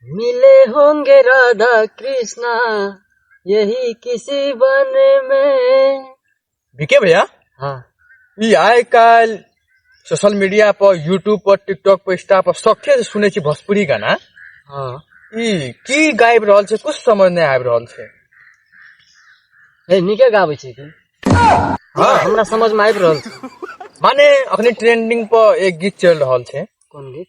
मिले होंगे राधा कृष्णा यही किसी बन में विके भैया हाँ ई आइ काल्हि सोशल मीडिया पर यूट्यूब पर टिकटॉक पर इंस्टा पर सखे से सुनै छी भोजपुरी गाना हाँ ई की गाबि रहल छै कुछ समझ नहि आबि रहल छै हे नीके गाबै छै की हाँ हमरा समझ में आबि रहल छै माने अखने ट्रेंडिंग पर एक गीत चलि रहल छै कोन गीत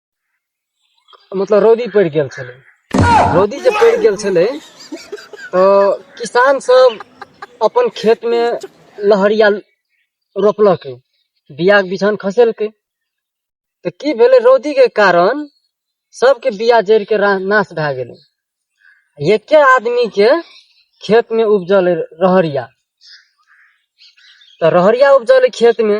मतलब रौदी पड़ि गेल छलै रौदी जे पड़ि गेल छलै तऽ किसान सब अपन खेत मे लहरिया रोपलक बिया बिछान खसेलकै तऽ की भेलै रौदी के कारण सबके बिया जरि के नाश भए गेलै एके आदमी के खेत में उपजल रहरिया तो रहरिया उपजल खेत में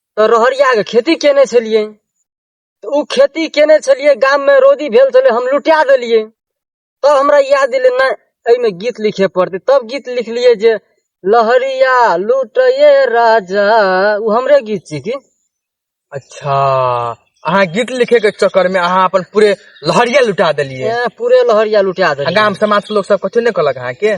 तऽ रहरियाके खेती केने छलियै तऽ ओ खेती केने छलियै गाममे रौदी भेल छलै हम लुटा देलियै तब हमरा याद एलै नहि एहिमे गीत लिखे पड़तै तब गीत लिखलियै जे लहरिया लुटैये राजा ओ हमरे गीत छी की अच्छा अहाँ गीत लिखे के चक्कर में अहाँ अपन पूरे लहरिया लुटा देलियै पूरे लहरिया लुटा देलियै गाम समाज के लोग सब कथी ने कहलक अहाँ के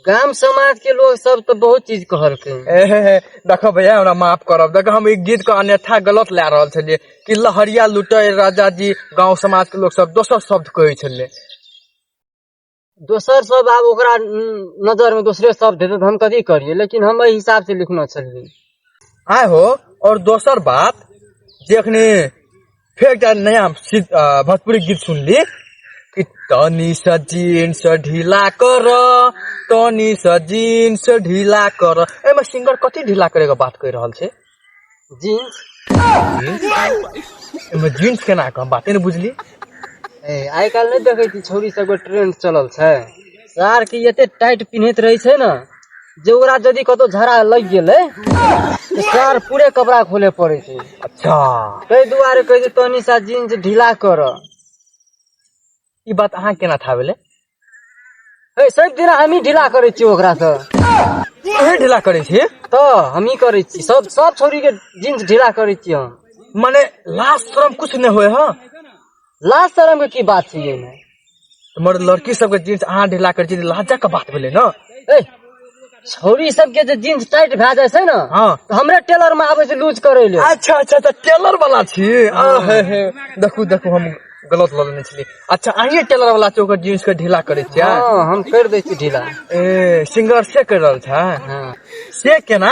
गाम समाज के लोग सब तो बहुत चीज कहलखिन ए, हे, हे, देखो भैया हमरा माफ करब देखो हम ई गीत के अन्यथा गलत लए रहल छलियै कि लहरिया लुटे राजा जी गांव समाज के लोग सब दोसर शब्द कहै छलै दोसर सब आब ओकरा न- नजर में दोसरे शब्द हेतै तऽ हम कथी करियै लेकिन हम एहि हिसाब से लिखने छलियै आय हो और दोसर बात जे अखनी फेर एकटा नया भोजपुरी गीत सुनली कि तनी सा जीन्स ढीला कर तनी सा जीन्स ढीला कर एहिमे सिंगर कथी ढीला करैके बात कहि रहल छै जीन्स एहिमे जीन्स केना के हम बाते ने बुझली आइ काल्हि नहि देखै छी छौरी सबके ट्रेंड चलल छै सार के एते टाइट पिन्हैत रहै छै ने जे ओकरा यदि कतौ झड़ा लागि गेलै तऽ सार पूरे कपड़ा खोले पड़ै छै अच्छा ताहि दुआरे कहै छै तनी सा जींस ढीला कर ई बात अहाँ केना था भेलै ए सब दिन हमही ढीला करै छियै ओकरा से अहाँ ढीला करै छी तऽ हमही करै छी सब सब छोरी के जींस ढीला करै छियै हम मने लाज शरम कुछ नहि होय हँ लाज शरम के की बात छै एहिमे हमर लड़की सबके जींस अहाँ ढीला कर छी लाजा के बात भेलै ना ए छौरी सबके जे जींस टाइट भए जाइ छै ने हाँ। तऽ हमरे टेलर में आबै छै लूज करै ले अच्छा अच्छा अच्छा टेलर वाला छी आ, हे, हे। देखू देखू हम गलत लऽ लेने छलियै अच्छा अहीं टेलर वाला छी ओकर जींस के ढीला करै छियै हाँ हम कर दै छी ढीला ए सिंगर से कर रहल छै हाँ से केना